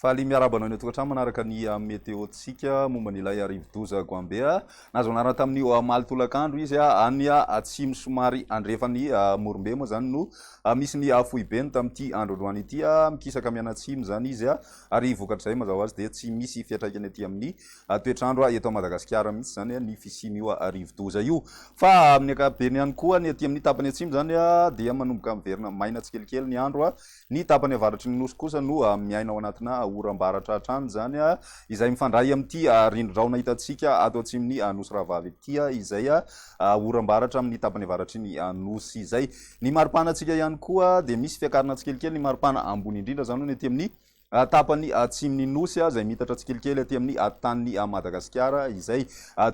Faly miarahaba anao tokantrano manaraka ny ah, météo-tsika momba an'ilay rivodoza Goambea. Nahazo anarana tamin'ny ah, omaly tolakandro izy ah, any atsimo somary andrefan'ny Morombe moa zany no misy ny foibeny tamin'ity androandroany ity. Mikisaka mianatsimo zany izy ary vokatrizay mazava azy dia tsy misy fiatraikany aty amin'ny a toetr'andro a eto Madagasikara mihitsy zany a ny fisian'io a rivodoza io fa amin'ny ankapobeny ihany koa ny aty amin'ny tapany atsimo zany a dia manomboka miverina maina tsikelikely ny andro a ny tapany avaratry ny nosy kosa no a miaina ao anatina a oram-baratra hatrany zany a izay mifandray amin'ity a rindrin-drahona hitantsika ato atsimon'ny a nosy rahavavy ity a izay a oram-baratra amin'ny tapany avaratry ny a nosy izay ny maripana antsika ihany koa dia misy fiakarana tsikelikely ny maripana ambony indrindra zany hono ety amin'ny Tapan'ny atsimon'ny Nosy izay miitatra tsikelikely aty amin'ny atitan'ny Madagasikara izay.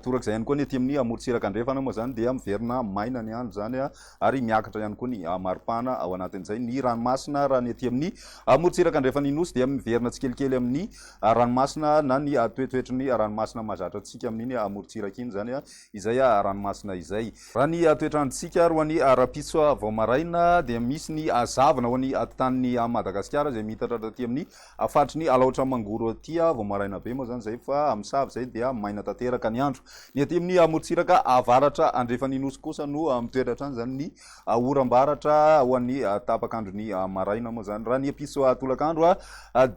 Torak'izay ihany koa ny aty amin'ny morontsiraka andrefana moa izany dia miverina maina ny andro izany ary miakatra ihany koa ny maripana ao anatin'izay ny ranomasina raha ny aty amin'ny morontsiraka andrefan'ny Nosy dia miverina tsikelikely amin'ny ranomasina na ny toetoetry ny ranomasina mahazatra antsika amin'iny morontsiraka iny izany izay a ranomasina izay. Raha ny toetr'androntsika ary ho an'i rahampitso vao maraina dia misy ny hazavana ho an'ny atitaniny a Madagasikara izay miitatra taty amin'ny a faritry ny Alaotra Mangoro aty a vao maraina be moa izany izay fa a misava izay dia maina tanteraka ny andro. Ny aty amin'ny a morontsiraka avaratra andrefan'ny nosy kosa no a mitoetra hatrany izany ny oram-baratra ho an'ny tapak'andron'ny maraina moa izany. Raha ny episy tolakandro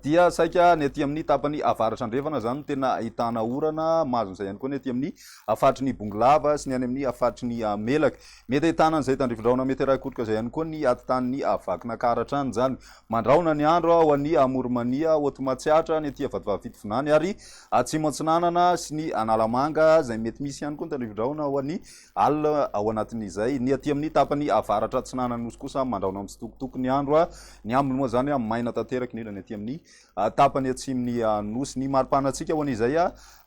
dia saika ny aty amin'ny tapany avaratra andrefana izany no tena ahitana orana, mahazo izay ihany koa ny aty amin'ny faritry ny Bongolava sy ny any amin'ny faritry ny Melaka. Mety ahitana an'izay tandrifindrahona mety arahi-kotroka izay ihany koa ny atidanin'ny Vakinankaratra hatrany izany. Mandrahona ny andro ho an'ny Amorimania, Haute Matsiatra, ny aty Vatovavy-Fitovinany ary Atsimo Atsinanana sy ny Analamanga izay mety misy ihany koa ny tandrifindrahona ho an'ny Al. Ao anatin'izay, ny aty amin'ny tapany avaratra atsinanan'ny Nosy kosa mandraona mitsitokotoko ny andro. Ny aminy moa izany maina tanteraka, indrindra ny aty amin'ny tapany atsimon'ny Nosy. Ny maripana antsika ho an'izay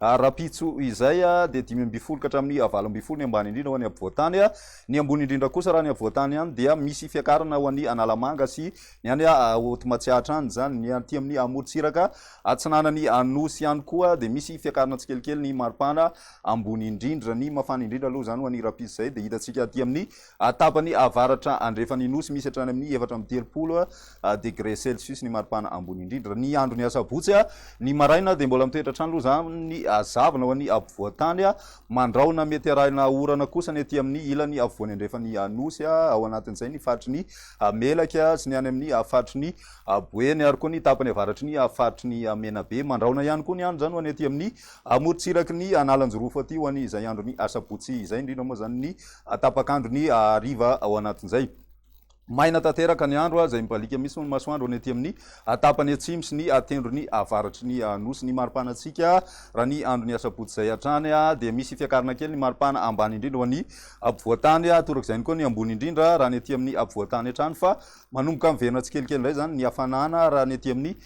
rahampitso izay dia dimy ambin'ny folo ka hatramin'ny valo ambin'ny folo ny ambany indrindra ho any afovoan-tany. Ny ambony indrindra kosa raha any afovoan-tany any dia misy fiakarana ho any Analamanga sy ny any Haute Matsiatra any izany. Ny aty amin'ny amorontsiraka atsinanan'ny Nosy ihany koa dia misy fiakarana tsikelikely ny maripana ambony indrindra. Ny mafana indrindra aloha izany ho an'ny rapizy izay dia hitantsika aty amin'ny tapany avaratra andrefan'ny Nosy, misy hatrany amin'ny efatra amby telopolo degré celsius ny maripana ambony indrindra. Ny andron'ny asabotsy ny maraina dia mbola mitoetra hatrany aloha izany ny hazavana ho an'ny afovoan-tany, mandrahona mety harahina orana kosa ny aty amin'ny ilany afovoany andrefan'ny Nosy, ao anatin'izay ny faritry ny Melaky sy ny any amin'ny faritry ny Boeny ary koa ny tapany avaratry ny faritry ny Menabe. Mandrahona ihany koa ny andro izany ho an'ny aty amin'ny Amorontsiraky ny Analanjirofo aty ho any izay andron'ny asabotsy izay, indrindra moa izany ny tapak'andron'ny hariva ao anatin'izay. Maina tanteraka ny andro izay mibaliaka mihitsy ny masoandro ny aty amin'ny tapany atsimo sy ny tendrony avaratry ny nosy. Ny maripanantsika raha ny andron'ny asabotsy izay hatrany dia misy fiakarana kely ny maripana ambany indrindra ho any ampovoantany, torak'izay ihany koa ny ambony indrindra raha ny aty amin'ny ampovoantany hatrany fa Manomboka miverina tsikelikely indray izany ny hafanana raha ny ety amin'ny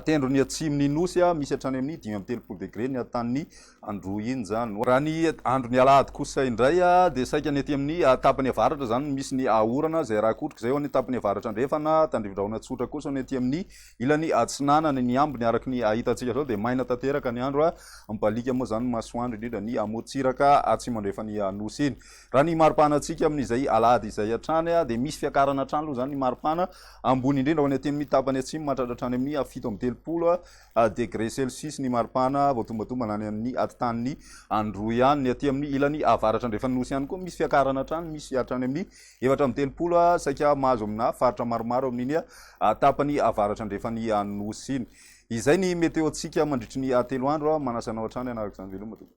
tendrony atsimon'ny Nosy, misy hatrany amin'ny dimy amby telopolo degre ny hatanin'ny androinjano. Raha ny andron'ny alahady kosa indray dia saika ny ety amin'ny tapany avaratra izany no misy ny orana izay araha kotroka izay ho an'ny tapany avaratra andrefana, tandrivindrahona tsotra kosa ny ety amin'ny ilany atsinanana, ny ambiny araka ny hitantsika izao dia maina tanteraka ny andro, mibaliaka moa izany ny masoandro indrindra ny amorontsiraka atsimo andrefan'ny Nosy iny. Raha ny maripana antsika amin'izay alahady izay hatrany dia misy fiakarana hatrany aloha izany ny maripana, ambony indrindra ho any atenimia tapany atsimo mahatratra hatrany amin'ny fito amby telopolo degré celsius ny maripana vao tombatombana any amin'ny atitan'ny Androy any, ny aty amin'ny ilany avaratra andrefan'ny Nosy ihany koa misy fiakarana hatrany, misy hatrany amin'ny efatra amby telopolo saika mahazo amina faritra maromaro amin'iny tapany avaratra andrefan'ny Nosy iny. Izay ny météo antsika mandritry ny telo andro, manasa anao hatrany hanaraka izany veloma tompoko.